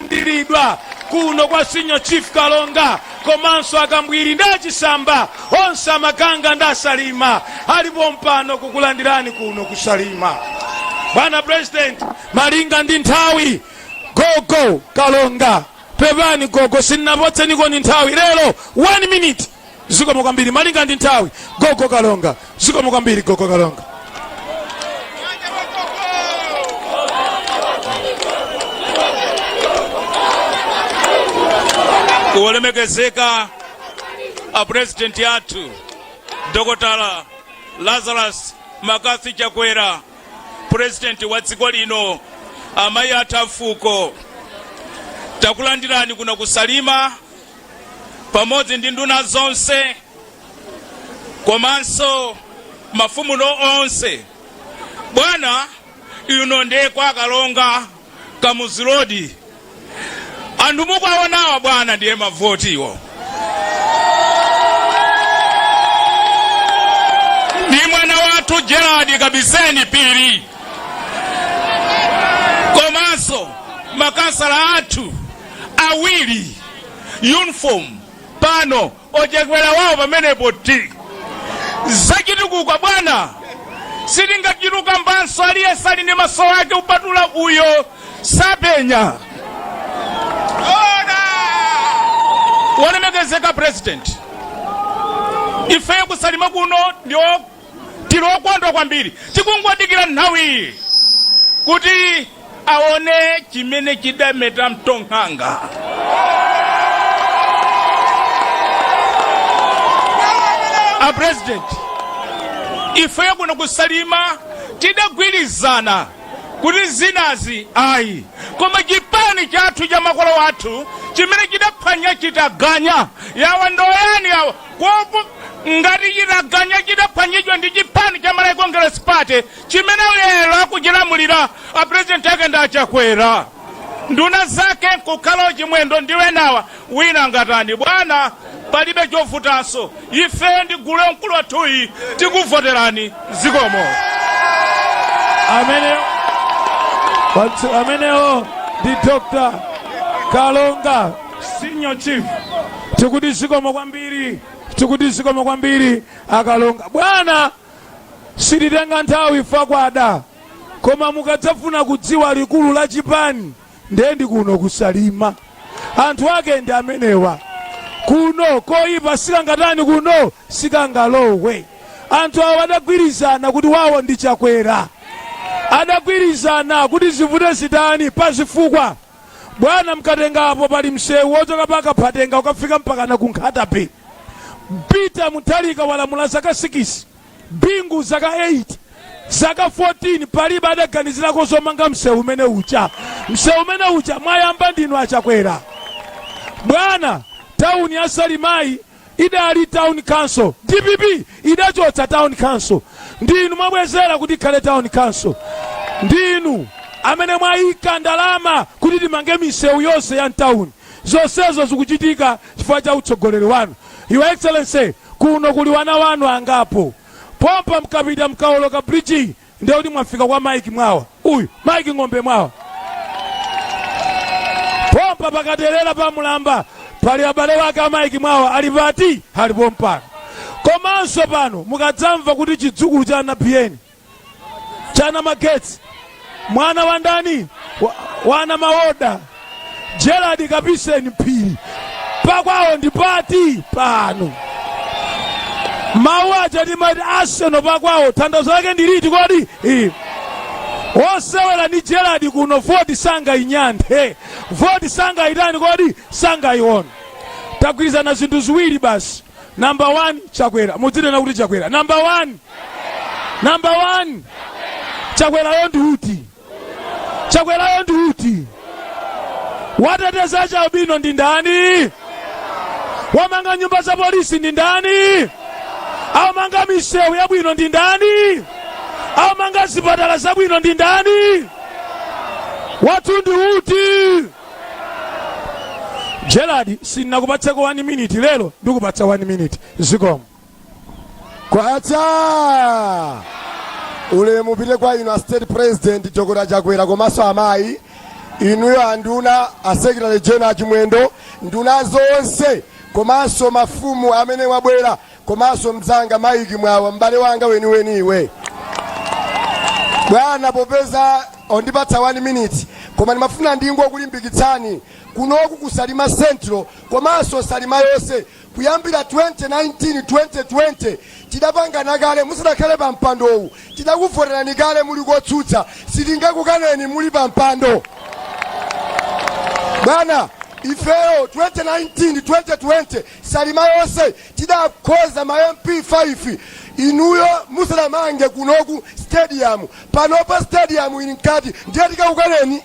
kulandiridwa kuno kwa senior chief kalonga komanso akambwiri ndi achisamba onse amaganga ndi asalima ali pompano kukulandirani kuno kusalima bwana president malinga ndi nthawi gogo kalonga pepani gogo sinnapotseniko ni nthawi lero 1 minute zikomo kwambiri malinga ndi nthawi gogo kalonga zikomo kwambiri gogo kalonga wolemekezeka a president athu dokotala lazarus mccarthy chakwera president wa dziko lino amayi athu afuko takulandirani kuno kusalima pamodzi ndi nduna zonse komanso mafumu nonse bwana ino ndiye kwa kalonga kamuzu road anthu mukwaonawa bwana ndiye mavotiwo ndi mwana wathu gerald kapiseni phiri komanso makhansala athu awiri uniform pano ochakwera wawo pamenepo ti zachitukuko bwana sitingachite kambanso aliyense ali ndi maso ake kupatula uyo sapenya wolemekezeka president ifeyo kusalima kuno ndi tili okondwa kwambiri tikungowadikira nthawi iyi kuti aone chimene chidameta mutu nkhanga a president ifeyo kuno kusalima tidagwirizana kuti zinazi ayi koma chipani chathu cha makolo athu chimene chidaphwanya chitaganya yawa ndoyani yawa Kopo ngati chitaganya chidaphwanyidwa ndi chipani cha Malawi Congress Party chimene lero akuchilamulira a president ake ndi a Chakwera. Nduna zake nkukhala ochimwendo ndi wenawa wina angatani bwana palibe chovutanso ifeyo ndi gulu mkulu wathuyi tikuvoterani zikomo. amene wathu amenewo ndi dr kalonga Senior Chief, tikuti zikomo kwambiri akalonga. Bwana, sititenga nthawi fukwa kwada, koma mukadzafuna kudziwa likulu la chipani ndiye ndi kuno kusalima, anthu ake ndi amenewa kuno koyipa sikangatani kuno sikangalowe anthu awo adagwirizana kuti wawo ndi chakwera adagwirizana kuti zivute zitani pa zifukwa Bwana mkatenga apo pali msewu wochoka pa Kaphatenga ukafika mpakana ku Nkhata Bay. Peter Mutharika walamula zaka sikisi, Bingu zaka eyiti, zaka fotini palibe adaganizirako zomanga msewu umene uja. Msewu umene uja mwayamba ndinu a Chakwera. Bwana, tauni ya Salimayi idali town council DPP idachotsa town council ndinu mwabwezera kuti ikhale town council ndinu amene mwayika ndalama kuti timange misewu yonse ya mtawuni zonsezo zikuchitika chifukwa cha utsogoleri wanu your excellency kuno kuli wana wanu angapo pompa mkapita mkaoloka bridge Ndiye kuti mwafika kwa Mike Mwawa. Uyu, Mike Ng'ombe Mwawa. Pompa pakaterera pa Mulamba pali abale wake a Mike Mwawa ali pati ali pompano. Komanso pano mukadzamva kuti chidzukulu cha Nabiyeni chana magetsi mwana wa ndani wana mawoda Gerald Kapiseni Phiri, pakwawo ndi pati pano? Mawu aja timati Arsenal pakwawo, tanthauzo lake ndi liti kodi? Eh. Osewera ndi Gerald kuno, voti sangayinyanthe, voti sangayitani kodi, sangayiwone. Tagwirizana zinthu ziwiri basi. Number one, Chakwera. Mudzinena kuti Chakwera. Number one, number one, Chakwerayo ndi uti? chakwerayo ndi uti wateteza achialubino ndi ndani wamanga nyumba za polisi ndi ndani amanga misewu yabwino ndi ndani amanga zipatala zabwino ndi ndani wathu ndi uti Gerald sindinakupatseko 1 minute lero ndikupatsa 1 minute zikomo kwacha ulemu upite kwa inu a state president Dokotala chakwera komanso amayi inuyo anduna a secretary general a Chimwendo nduna zonse komanso mafumu amene wabwera komanso mzanga Mike Mwawa m'bale wanga weniweni iwe bwana popeza ondipatsa 1 minute koma ndimafuna ndingokulimbikitsani kunoku ku Salima central komanso Salima yonse Kuyambira 2019, 2020 tidapangana kale musadakhale pa mpandowu, tidakuvoterani kale muli kotsutsa, sitingakukaneni muli pa mpando bwana. Ifeyo 2019, 2020 Salima yonse tidakhoza ma MP 5 inuyo musadamange kunoku stadium, panopa stadium ili mkati ndiye tikakukaneni?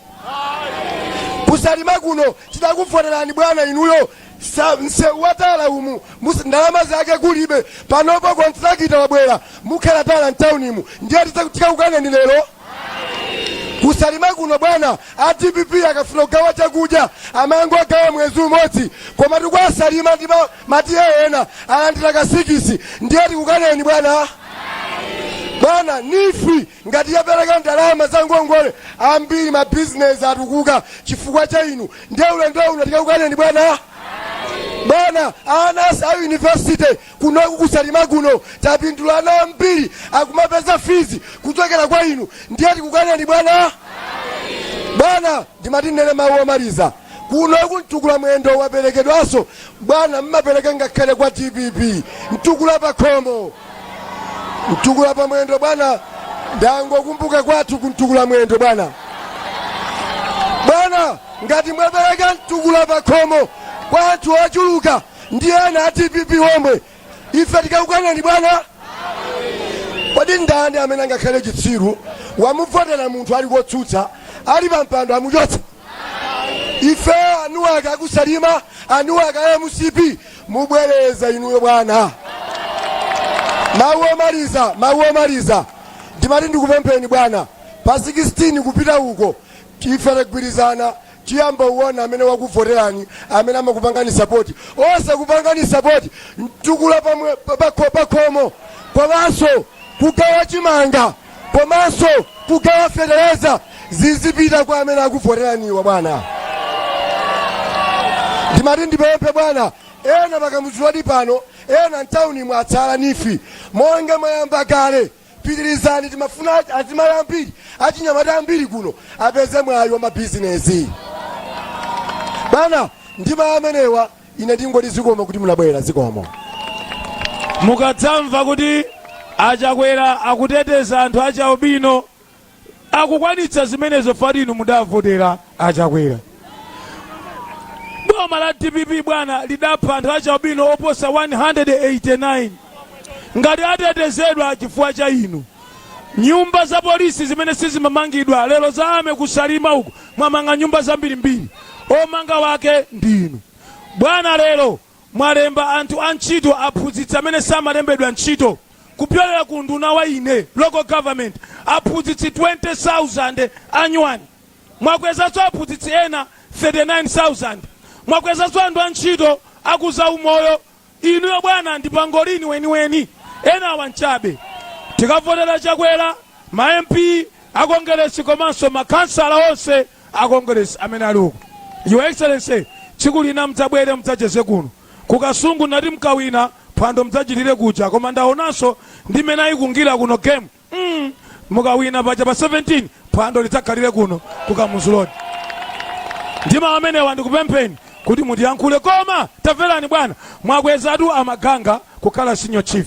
Ku Salima kuno tidakuvoterani bwana inuyo sa msewu wa tala umu mus- ndalama zake kulibe panopo kontrakita wabwera mukhala tala mtaunimu ndiye tisa- tikakukaneni lero kusalima kuno bwana a dpp akafuna kugawa chakudya amangogawa mwezi umodzi koma ife kwa Salima ndi ma- ma TA ena alandira kasikisi ndiye tikukaneni bwana bwana nifi Ngati wapereka ndalama za ngongole ambiri ma business atukuka chifukwa cha inu ndiye ulendo uno tikakukaneni bwana? Bwana ana athu a university kunoku ku Salima kuno tapindula ana ambiri akumapeza fees kuchokera kwa inu ndiye tikukaneni bwana? Bwana Ndimati ndinene mawu omaliza. Kunoku mtukula mwendo waperekedwaso bwana mmapereka ngakhale kwa dpp mtukula pakhomo mtukula pa mwendo bwana ndangokumbuka kwathu ku mtukula mwendo bwana bwana ngati mwapereka mtukula pakhomo kwa anthu ochuluka ndi ena a dpp omwe ife tikakukaneni bwana kodi ndani amene angakhale chitsiru wamuvotera munthu ali kotsutsa ali pampando amuchotsa ife anuwake akusalima anuwake a mcp mubwereza inuyo bwana mawu omaliza mawu omaliza ndimati ndikupempheni bwana pa 16 kupita uko ife tagwirizana Tiyamba kuona amene wakuvotelani amene amakupangani support osakupangani support mtukula pamwe pakhomo komanso kugawa chimanga komanso kugawa fetereza zizipita kwa amene akuvotelaniwa bwana ndimati ndipemphe bwana ena pakamudziwadi pano ena mtaunimu atsala nifi monga mwayamba kale Pitilizani timafuna azimayi ambiri achinyamata ambiri kuno apeze mwayi wa mabizinesi bwana ndi mawu amenewa ine ndingoti zikomo kuti munabwera zikomo mukadzamva kuti achakwera akuteteza anthu achialubino akukwanitsa zimenezo chifukwa choti inu mudavotera achakwera boma la dpp bwana lidapha anthu achialubino oposa 189 ngati atetezedwa chifukwa cha inu nyumba za polisi zimene sizimamangidwa lero za army kusalima uku mwamanga nyumba zambirimbiri omanga wake ndi inu bwana lero mwalemba anthu antchito aphunzitsi amene samalembedwa ntchito kupyolera ku unduna wa ine local government aphunzitsi 20000 anyuwani mwakwezanso aphunzitsi ena 39000 mwakwezanso anthu antchito aku zaumoyo inuyo bwana ndi pangolini weniweni enawa nchabe tikavotera chakwera ma mp akongeresi komanso makhansala onse a Congress amene ali uko. Your Excellency, tsiku lina mudzabwere mudzacheze kuno. Ku Kasungu ndinati mukawina, phwando mudzachitire kuja koma ndaonanso ndi mmene ayikungira kuno game. Mm, mukawina paja pa 17 phwando lidzakhalire kuno ku Kamuzu Road. Ndi mau amenewa ndikupempheni kuti mutiyankhule koma tamverani bwana mwakwezatu amaganga kukhala senior chief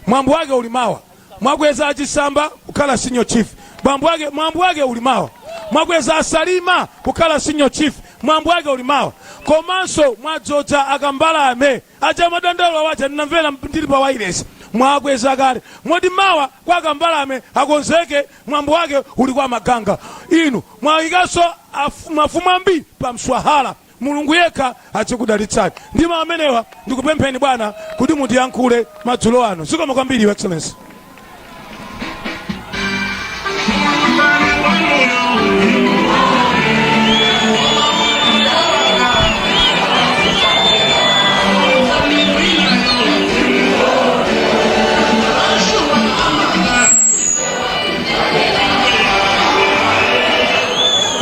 mwambo wake uli mawa Mwakweza a Chisamba kukhala senior chief mwambo wake mwambo wake uli mawa. Mwakweza a Salima kukhala senior chief mwambo wake uli mawa. Komanso mwadzoza a Kambalame aja madandaulo aja ndinamvera ndili pa wailesi mwakweza kale moti mawa kwa a Kambalame akonzeke mwambo wake uli kwa Maganga. Inu mwayikanso afu- mafumu ambiri pa mswahala Mulungu yekha azikudalitsani ndi mau amenewa. Ndikupempheni bwana kuti mutiyankhule madzulo ano. Zikomo kwambiri your excellency.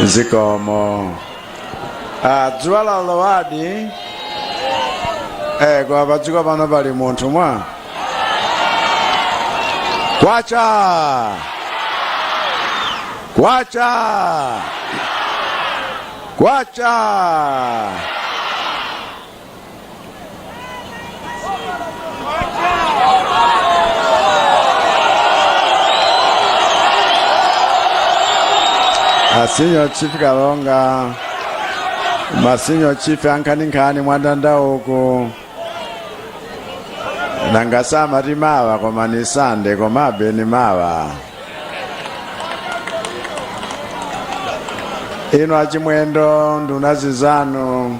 zikomo Ah, dzuwa lalowadi eh, kwa padziko pano pali munthu mwa kwacha kwacha kwacha A Senior Chief Kalonga, ma Senior Chief ankhaninkhani mwandanda uku nanga samati mawa koma ni Sande komabe ni mawa inu a Chimwendo nduna zizanu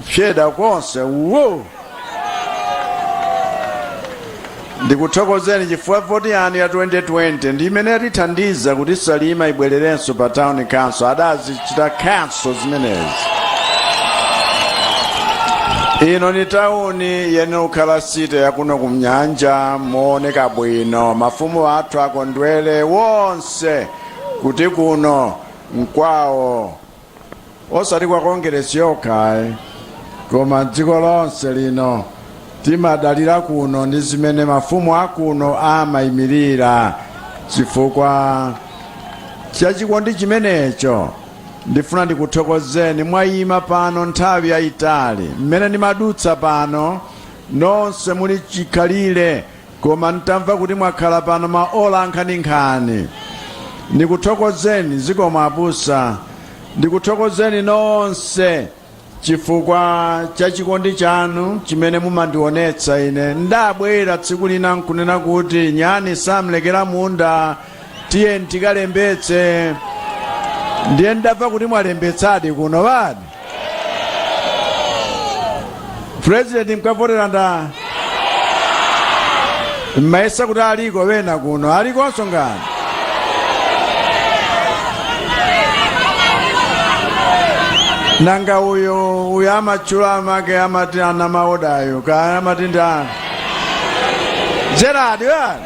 fyeda konse wo ndikuthokozeni chifukwa voti yanu ya 2020 ndi imene yatithandiza kuti Salima ibwererenso pa town council adazichita kale zimenezi ino ni tauni yoyenera kukhala city yakuno kumnyanja mooneka bwino mafumu athu akondwere wonse kuti kuno nkwawo osati kwa Kongeresi yokha ayi koma dziko lonse lino timadalira kuno ndi zimene mafumu akuno amayimirira chifukwa chachikondi chimenecho ndifuna ndikuthokozeni mwayima pano nthawi yayitali mmene ndimadutsa pano nonse muli chikhalire Koma n'tamva kuti mwakhala pano maola ankhaninkhani. Ndikuthokozeni. Zikomo abusa. Ndikuthokozeni nonse chifukwa cha chikondi chanu chimene mumandionetsa ine. Ndabwera tsiku lina n'kunena kuti nyani samulekera munda tiyeni tikalembetse ndiye ndamva kuti mwalembetsadi kuno ŵadi president mkavotera nda m'mayesa kuti aliko wena kuno alikonso ngani nanga uyo uyo amatchula amake amati wa maoda uyo kaya amati ndani gerard wani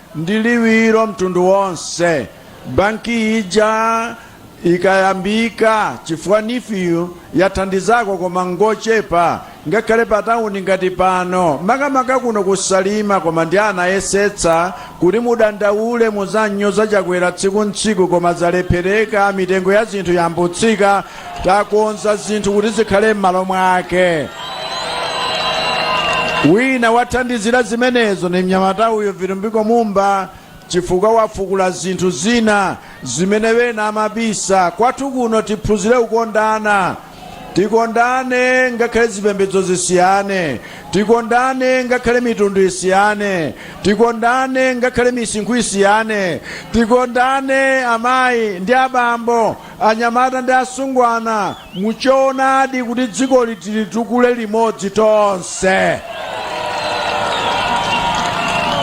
ndi liwiro mtundu wonse banki ija ikayambika chifukwa NEEF yathandizako koma ngochepa ngakhale pa tawuni ngati pano makamaka kuno kusalima komandi anayesetsa kuti mudandaule muzinyoza Chakwera tsiku ntsiku koma zalephereka mitengo ya zinthu yayamba kutsika takonza zinthu kuti zikhale m'malo mwake wina wathandizira zimenezo ni mnyamata uyo Vitumbiko Mumba chifukwa wafukula zinthu zina zimene wena amabisa kwathu kuno tiphunzire kukondana tikondane ngakhale zipembedzo zisiyane tikondane ngakhale mitundu isiyane tikondane ngakhale misinkhu isiyane tikondane amayi ndi abambo anyamata ndi asungwana mu choonadi kuti dzikoli tilitukule limodzi tonse.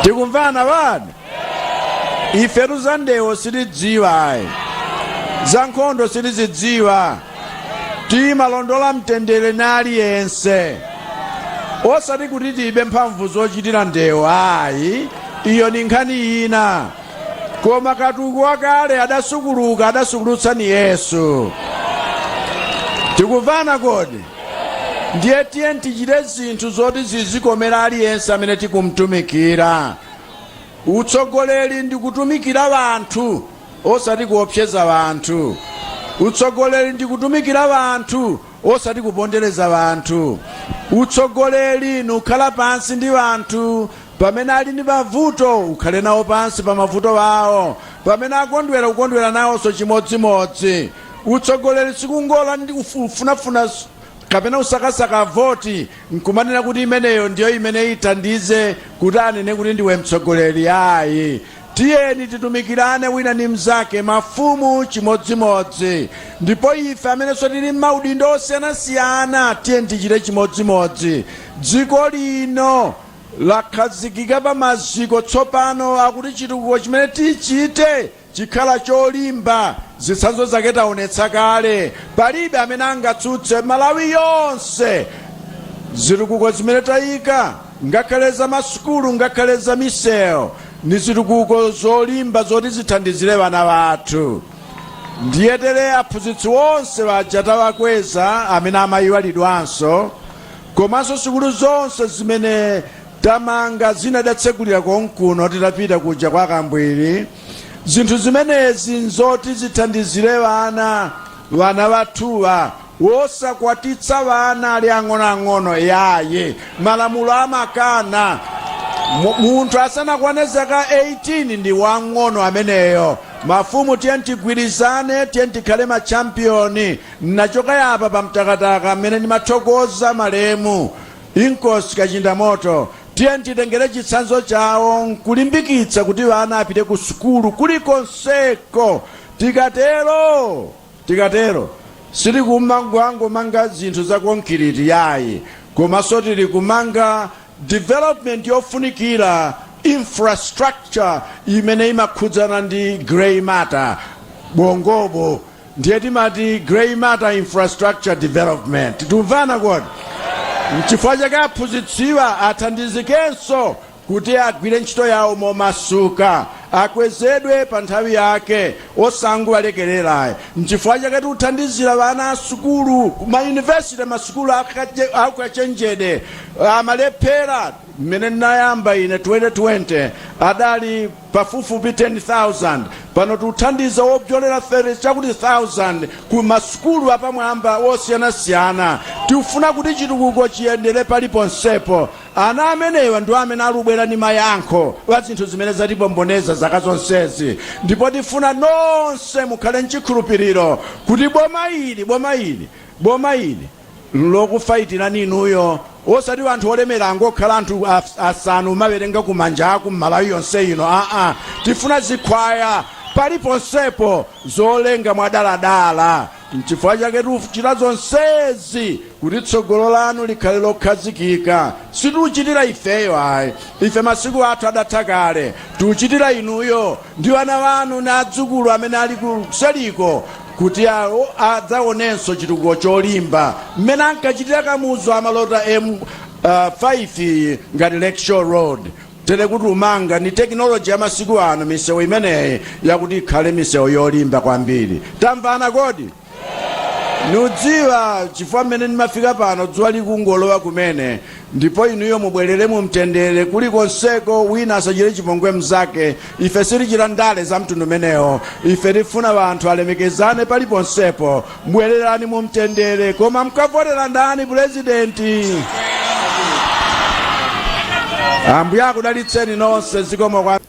Tikumvana ŵani? Ifetu za ndewo sitidziwa ayi. Za nkhondo sitizidziwa. Timalondola mtendere ni aliyense. Osati kuti tilibe mphamvu zochitira ndewo ayi. Iyo ni nkhani ina. koma katukule wakale adasukuluka adasukulutsa ndi yesu tikumvana kodi ndiye tiye tichite zinthu zoti zizikomera aliyense amene tikumtumikira utsogoleri ndi kutumikira wanthu osati kuopseza wanthu utsogoleri ndi kutumikira wanthu osati kupondereza wanthu utsogoleri nukhala pansi ndi wanthu Pamene ali ni mavuto, ukhale nawo pansi pa mavuto awo, pamene akondwera, ukondwere nawonso chimodzimodzi. Utsogoleri si kungofunafuna kapena kusakasaka voti n'kumanena kuti imeneyo ndiyo imene ithandize kuti anene kuti ndiwe mtsogoleri ayi. Tiyeni titumikirane wina ni mnzake, mafumu chimodzimodzi, ndipo ife amenenso tili m'maudindo osiyanasiyana tiyeni tichite chimodzimodzi. Dziko lino lakhazikika pa maziko tsopano akuti chitukuko chimene tichite chikhala cholimba. Zitsanzo zake taonetsa kale. Palibe amene angatsutse Malawi yonse zitukuko zimene tayika ngakhale za masukulu ngakhale za miseu ndi zitukuko zolimba zoti zithandizire wana wathu. Ndiye tere aphunzitsi onse aja tawakweza amene amayiwalidwanso Komanso sukulu zonse zimene tamanga zina tidatsegulira konkuno titapita kuja kwa Kambwiri. Zinthu zimenezi nzoti zithandizire wana, wana wathuwa wosakwatitsa wana ali ang'onoang'ono yaye. Malamulo amakana. Munthu asanakwane zaka 18 ndi wang'ono ameneyo. Mafumu tiyeni tigwirizane, tiyeni tikhale ma champion. Nnachoka yapa pa Mtakataka mmene ndimathokoza malemu Inkosi Kachindamoto. Tiyeni titengere chitsanzo chawo nkulimbikitsa kuti wana apite ku sukulu kulikonseko. Tikatero tikatero sitili kumangomanga zinthu za konkiriti yayi komanso tili kumanga development yofunikira infrastructure imene imakhudzana ndi grey matter, bongobo. Ndiye timati grey matter infrastructure development. Tikumvana kodi? N'chifukwa chake aphunzitsiwa athandizikenso kuti agwire ntchito yawo momasuka, akwezedwe pa nthawi yake osangowalekerera ayi. N'chifukwa chake tikuthandizira wana a sukulu mayunivesite, masukulu akache- aukachenjede amalephera. Mmene ndinayamba ine 2020 adali pafupifupi 10,000. Pano tikuthandiza wobzolera 30 chakuti thousand ku masukulu apamwamba osiyanasiyana. Tikufuna kuti chitukuko chiyendere paliponsepo. Ana amenewa ndiwo amene alubwera ndi mayankho pa zinthu zimene zatipomboneza zaka zonsezi. Ndipo tifuna nonse mukhale nchikhulupiriro kuti boma ili, boma ili, boma ili. nlokufayitirani inuyo osati anthu olemera angokhala anthu as- asanu umawerenga kumanja aku m'Malawi yonse ino aa tifuna zikhwaya paliponsepo zolenga mwadaladala nchifukwa chake tikuchita zonsezi kuti tsogolo lanu likhale lokhazikika sitiuchitira ifeyo ayi ife masiku athu adatha kale tiuchitira inuyo ndi wana wanu ndi adzukulu amene ali kuseliko kuti awo adzaonenso chitukuko cholimba mmene ankachitira Kamuzu amalota M5 iyi ngati Lakeshore Road tere kuti tumanga ndi tekinoloji ya masiku ano misewu imeneyi yakuti ikhale misewu yolimba kwambiri tamvana kodi nudziwa chifukwa mmene ndimafika pano dzuwa likungolowa kumene Ndipo inuyo mubwelere mu mtendere kulikonseko wina asachire chipongwe mzake ife sitichita ndale za mtundu umenewo ife tifuna anthu alemekezane paliponsepo bwelerani mu mtendere koma mkavotera ndani pulezidenti ambuye akudalitseni nonse zikomo kwa